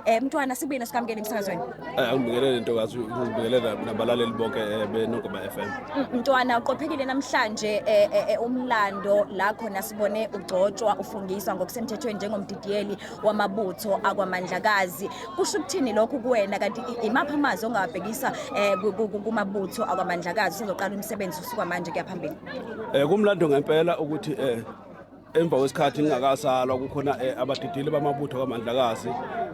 Eh mntwana sibuye nesikamkele emsakazweni. Eh angibingelele ntokazi ngibingelele nabalaleli bonke eh, benogoma FM. Mntwana uqophekile namhlanje eh, eh, eh, umlando la khona sibone ugcotshwa ufungiswa ngokusemthethweni njengomdidiyeli wamabutho akwamandlakazi. Kusho ukuthini lokhu kuwena kanti i- imaphi amazwi ongawabhekisa eh, ku- ku- ku- kumabutho akwamandlakazi usezoqala umsebenzi usuka manje kuya phambili. Eh kumlando ngempela ukuthi eh emva kwesikhathi ngingakasalwa kukhona eh, abadidili bamabutho kamandlakazi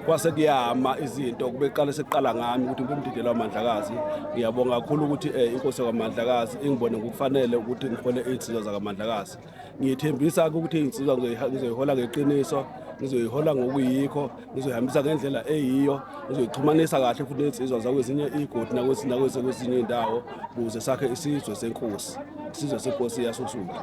kwase kuyama izinto kube qale sekuqala ngami ukuthi ngibe umdideli wamandlakazi ngiyabonga kakhulu ukuthi eh, inkosi yakwamandlakazi ingibone ngokufanele ukuthi ngihole iy'nsizwa zakamandlakazi ngiyithembisa ke ukuthi iy'nsizwa ngizoyiha- ngizoyihola ngeqiniso ngizoyihola ngokuyikho ngizoyihambisa ngendlela eyiyo ngizoyixhumanisa kahle futhi ney'nsizwa zakwezinye iy'godi nakwezi- nakwezi- kwezinye iy'ndawo ukuze sakhe isizwe senkosi isizwe senkosi yasosuku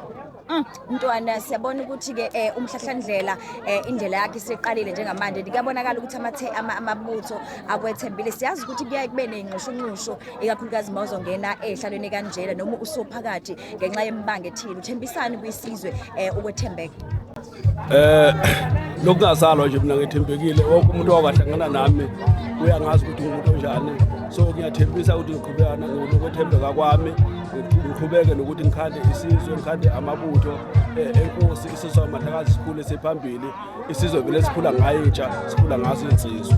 Mm, Mntwana siyabona ukuthi ke eh, umhlahlandlela eh, indlela yakhe isiqalile njengamanje kuyabonakala ukuthi amathe ama- amabutho akwethembile siyazi ukuthi kuyaye kube neyinxushunxushu ikakhulukazi uma uzongena ehlalweni kanjena noma usuphakathi ngenxa yemibanga ethile uthembisani kwisizwe eh, ukwethembeka Eh lokungazalwa nje mina ngethembekile wonke umuntu owakahlangana nami uyangazi ukuthi umuntu onjani so ngiyathembisa ukuthi ngiqhubekana ngokwethembeka kwami ngiqhubeke nokuthi ngikhande isizwe ngikhande amabutho eh, enkosi isizwe amahlakazi sikhule siphambili isizwe vele sikhula ngayo intsha sikhula ngaso insizwe